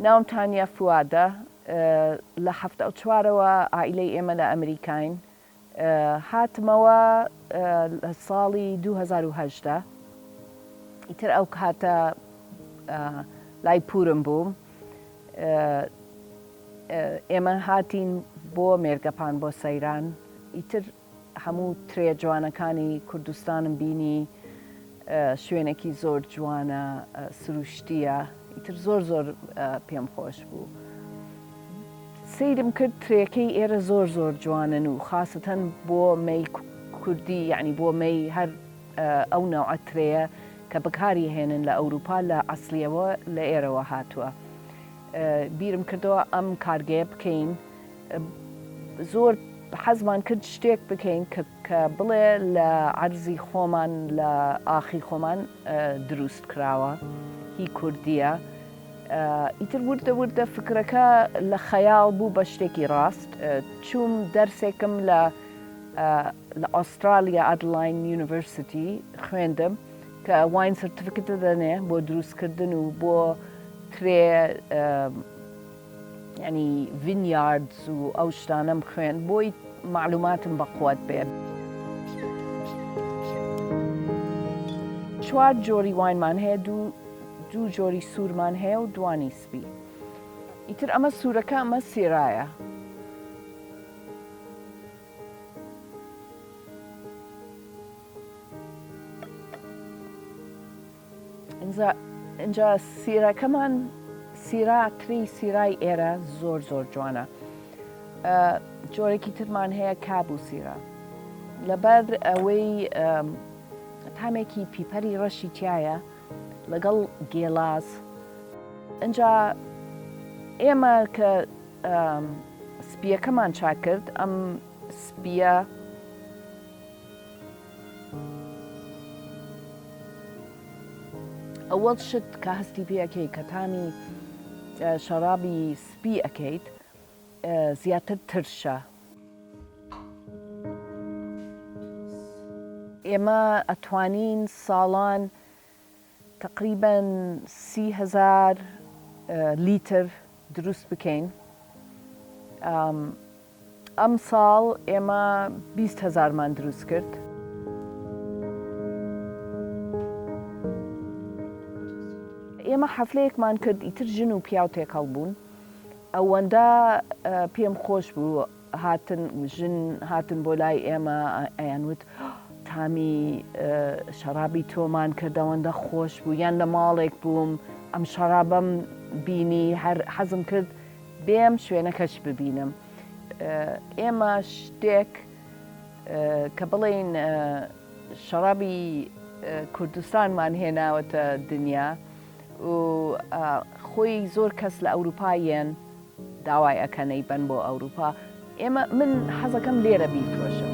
ناوم تانیا فوادە لە حەفتا و چوارەوە عائیلەی ئێمە لە ئەمریکاین هاتمەوە لە ساڵی دوو هەزار و هەژدە ئیتر ئەو کاتە لای پورم بووم ئێمە هاتین بۆ مێرگەپان بۆ سەیران ئیتر هەموو ترێ جوانەکانی کوردستانم بینی شوێنەکی زۆر جوانە سروشتیە ئیتر زۆر زۆر پێم خۆش بوو سیرم کرد ترێکەی ئێرە زۆر زۆر جوانن و خاستەن بۆ مەی کوردی یعنی بۆ مەی هەر ئەو ناوعە ترەیە کە بەکاری هێنن لە ئەوروپا لە ئەسلیەوە لە ئێرەوە هاتووە بیرم کردەوە ئەم کارگەیە بکەین زۆر حەزمان کرد شتێک بکەین کە بڵێ لە عەرزی خۆمان لە ئاخی خۆمان دروست کراوە هی کوردیە. ئیتر وردە وردە فکرەکە لە خەیاڵ بوو بە شتێکی ڕاست چوم دەرسێکم لە لە ئوسترالیا ئەدلاین یونیڤرسیتی خوێندم کە واین سرتفکتە دەنێ بۆ دروستکردن و بۆ ترێ یانی ڤینیاردس و ئەو شتانەم خوێند بۆی مەعلوماتم بەقوەت بێت. چوار جۆری واینمان هەیە دوو دوو جۆری سوورمان هەیە و دوانی سپی ئیتر ئەمە سوورەکە ئەمە سێرایە ئینجا سیرەکەمان سیرا تری سیرای ئێرە زۆر زۆر جوانە جۆرەێکی ترمان هەیە کاب و سیرا لەبەر ئەوەی تامێکی پیپەری ڕەشی تایە لەگەڵ گێلاس ئەجا ئێمە کە سپیەکەمان چاکرد ئەم سپیە ئەوەڵ شت کە هەستی پێ ئەکەی کە تامی شەڕابی سپی ئەکەیت زیاتر ترشە. ئێمە ئەتوانین ساڵان تەقریبەن سی هەزار لیتر دروست بکەین ئەم ساڵ ئێمە بیست هەزارمان دروست کرد. ئێمە حەفلەیەکمان کرد ئیتر ژن و پیاو تێکەڵ بوون ئەوەندە پێم خۆش بوو هاتن ژن هاتن بۆ لای ئێمە ئەیان وت تامی شەرابی تۆمان کرد ئەوەندە خۆش بوو یان لە ماڵێک بووم ئەم شەرابەم بینی هەر حەزم کرد بێم شوێنەکەش ببینم ئێمە شتێک کە بڵێین شەڕابی کوردستانمان هێناوەتە دنیا و خۆی زۆر کەس لە ئەوروپایەن داوای ئەکەن ی بەن بۆ ئەوروپا. ئێمە من حەزەکەم لێرە بیفرۆشم.